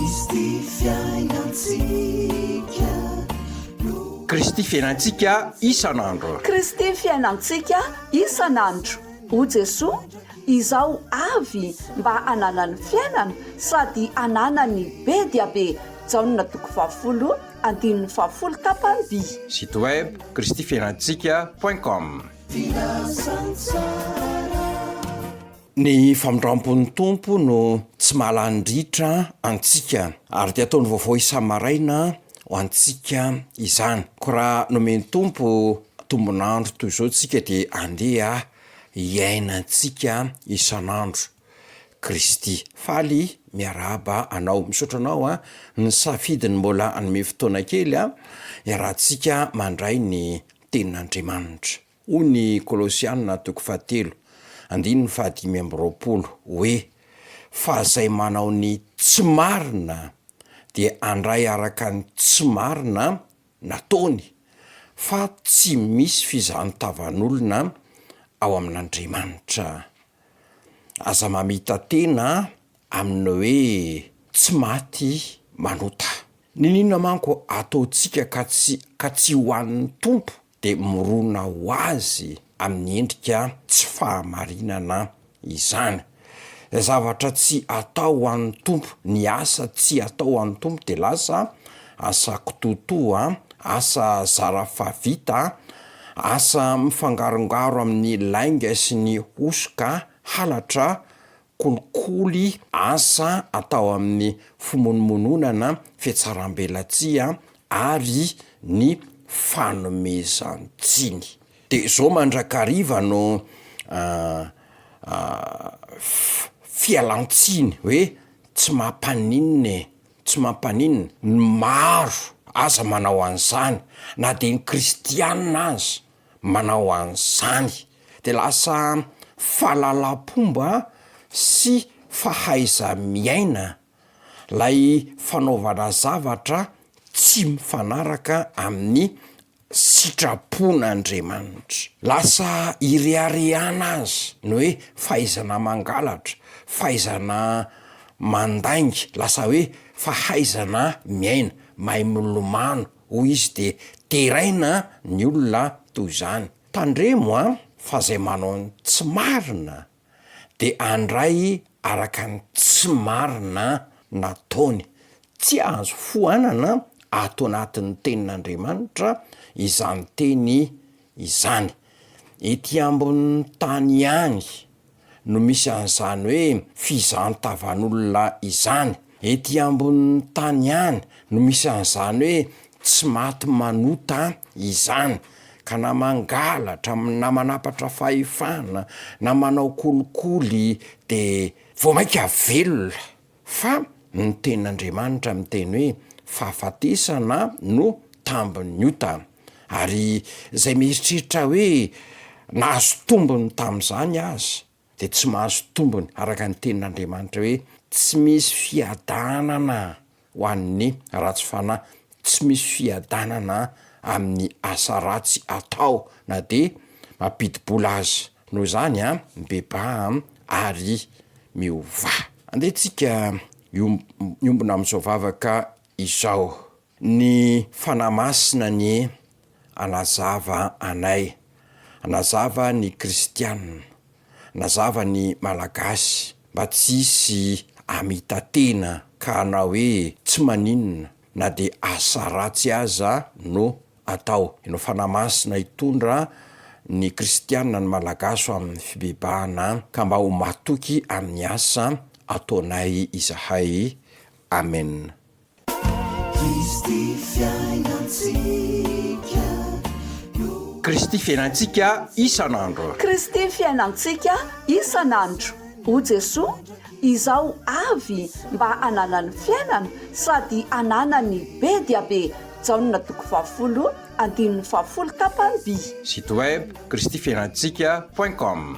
Kristy fiainantsika no. Kristy fiainantsika isan'andro. Kristy fiainantsika isan'andro. O Jesoa, izaho avy mba hananany fiainana sady hananany be dia be. Jaona toko fahafolo andininy fahafolo tapany-by. Site web, kristyfiainantsika point com. Filazantsara. Ny famindrampon'ny Tompo no tsy mahalany-dritra antsika, ary dia ataony vaovao isa-maraina ho antsika izany. Koa raha nomen'ny Tompo tombon'andro toy izao isika dia andeha hiainantsika isan'andro Kristy. Faly miarahaba anao. Misaotra anao an, ny safidy ny mbola hanome fotoana kely an, hiarahantsika mandray ny tenin'Andriamanitra. Hoy ny Kolosiana toko fahatelo, andininy fahadimy amby roapolo, hoe, Fa izay manao ny tsy marina dia handray araka ny tsy marina nataony, fa tsy misy fizahantavanolona ao amin'Andriamanitra. Aza mamita-tena amin'ny hoe tsy maty manota. Niniana manko ataontsika ka tsy ka tsy ho an'ny Tompo dia mirona ho azy amin'ny endrika tsy fahamarinana izany. Ilay zavatra tsy atao ho an'ny Tompo, ny asa tsy atao ho an'ny Tompo dia lasa asa kitoatoa, asa zara fahavita, asa mifangarongaro amin'ny lainga sy ny hosoka, halatra, kolikoly asa atao amin'ny fimonomonoana na fihatsaram-belatsihy ary ny fanomezan-tsiny. Dia izao mandrakariva no fialan-tsiny hoe tsy mampaninona e, tsy mampaninona, ny maro aza manao an'izany na dia ny kristiana aza. manao an'izany de lasa fahalalam-pomba sy fahaiza-miaina lay fanaovana zavatra tsy mifanaraka amin'ny sitrapon'Andriamanitra. Lasa ireharehana azy ny hoe fahaizana mangalatra, fahaizana mandainga, lasa hoe fahaizana miaina, mahay milomano. hoy izy dia deraina ny olona toy izany. Tandremo an! fa izay manao ny tsy marina dia handray araka ny tsy marina nataony. Tsy azo foanana ato anatin'ny tenin'Andriamanitra izany teny izany. Ety ambonin'ny tany ihany no misy an'izany hoe fizantavan'olona izany. Ety ambonin'ny tany ihany no misy an'izany hoe tsy maty manota izany. Ka na mangalatra, na manapatra fahefana, na manao kolikoly dia vao mainka velona. Fa ny tenin'Andriamanitra miteny hoe, Fahafatesana no tambin'ny ota. Ary izay mieritreritra hoe nahazo tombony tamin'izany aza, dia tsy mahazo tombony, araka ny tenin'Andriamanitra hoe, Tsy misy fiadanana ho an'ny ratsy fanahy, tsy misy fiadanana amin'ny asa ratsy atao, na dia mampidi-bola aza. Noho izany a, mibebaha ary miovaha. Andeha tsika hiombona amin'izao vavaka izao. Ny Fanahy Masina anie hanazava anay, hanazava ny kristiana, hanazava ny Malagasy mba tsy hisy hamita-tena ka hanao hoe tsy maninona na dia asa ratsy aza no atao. Inona fanahy masina hitondra ny kristiana ny Malagasy ho amin'ny fibebahana ka mba ho matoky amin'ny asa ataonay izahay. Amen. Kristy fiainantsika isan'andro. Kristy fiainantsika isan'andro. O Jesoa, izao avy mba hananany fiainana sady hananany be dia be Jaona toko fahafolo andininy fahafolo tapany vii. Site web kristifiainantsika point com.